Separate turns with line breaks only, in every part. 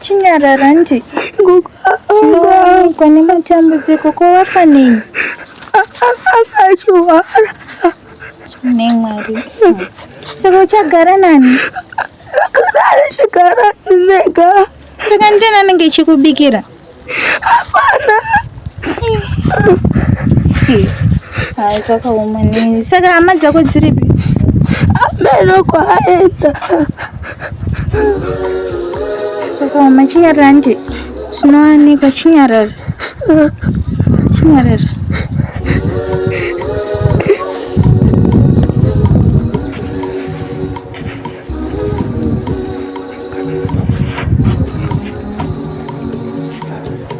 Chinyarara nje. Gogo aonekwa nematambudziko ko wafanei? Akachuvara. Chine mwari. Saka uchagara nani? Akadari chigara
nega. Saka ndiyani
anenge chikubikira? Hapana. Hai zvakaoma nini. Saka hama dzako dziripi? Ameno
kwaenda.
Sokoma chinyarara nti zvinowanikwa chinyarara chinyarara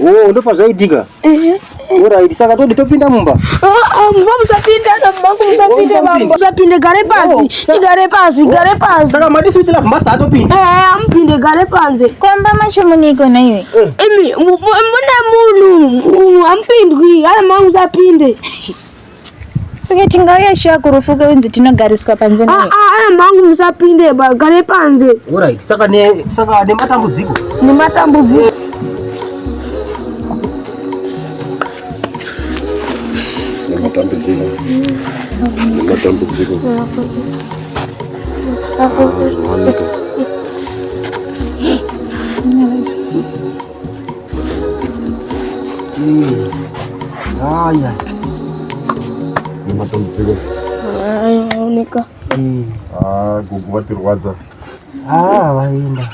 Oh, ndo pazvaitika. Ehe. Alright, saka todi topinda mumba. Ah, ah, mumba musapinda, na mumba wangu
musapinde Oh, bambo. Musapinde gare Oh, pasi. sa- Igare pasi, gare pasi. Saka madi sweet love master
atopinda. Eh, amupinde gare
panze. Kwamba macho muniko
na iwe. Imi mu- mu-
mune munhu mu- amupindwi, ari mangu musapinde.
Saka tingauya shuwa kurufu kweunzi tinogariswa panze ah, naye. Ah, ah, mangu musapinde
ba, gare panze. Alright, saka ne
saka ne matambudziko. Ne matambudziko.
Ne matambudziko.
Ne matambudziko. Hapo. Haya. Ni matambudziko.
Aoneka. Mm.
Ah, gugu vatirwadza. Ah,
vaenda.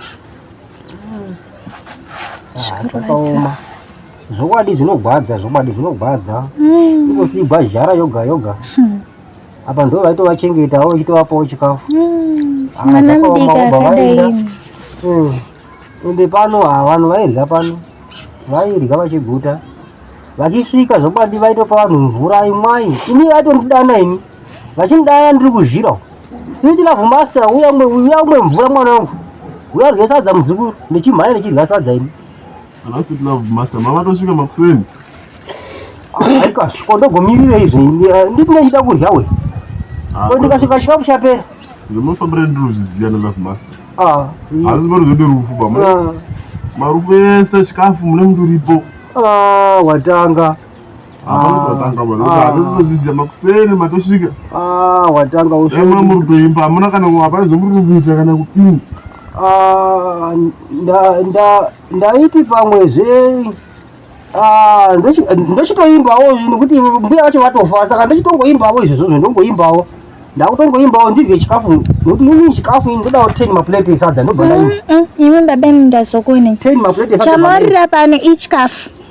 Ah, zvakaoma. Zvokwadi zvinogwadza, zvokwadi zvinogwadza. Mm. Ikosibva zhara yoga yoga. Hmm. Apa ndo vaitovachengetawo ichitovapawo chikafu. Mm. Ah, Mwana
mudiki akadai. Mm.
Ende pano haa vanhu vairya pano vairya vachiguta vachisvika zvokwadi vaitopa vanhu mvura imwai ini vaitondidana ini vachindidana ndiri kuzhira uko sweet love master uya umwe uya umwe mvura mwana wangu uya rye sadza muzukuru ndichimhanya ndichirya sadza ini Alafu love
master mama tosvika makuseni. Aika
shikodo gomirira izvi nditi ndachida kurya we. Ah, ko ndikasvika chikafu chapera. Ndinofambira ndiri
zviziya na love master. Ah. Hazvi bari
zvode rufu bamwe.
Ah. Marufu ese chikafu mune mndu ripo. Ah, watanga. ndaiti
pamwe zve Ah, ndochitoimbawo nekuti mbuya vacho vatofa saka ndochitongoimbawo izvozvo ndongoimbawo ndakutongoimbawo ndidye chikafu nekuti ini chikafu ini ndodawo ten maplate esadza ndobva ndaimba mm, mm, mm. imi baba imi
ndazokuonei ten maplate
chamarira pano
ichikafu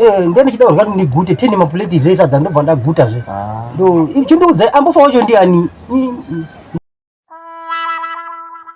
Eh, ndiye
ndichida kurya ndigute tene mapuleti here sadza ndobva ndaguta zve ah. ndo chindiudza ambofa wacho ndiani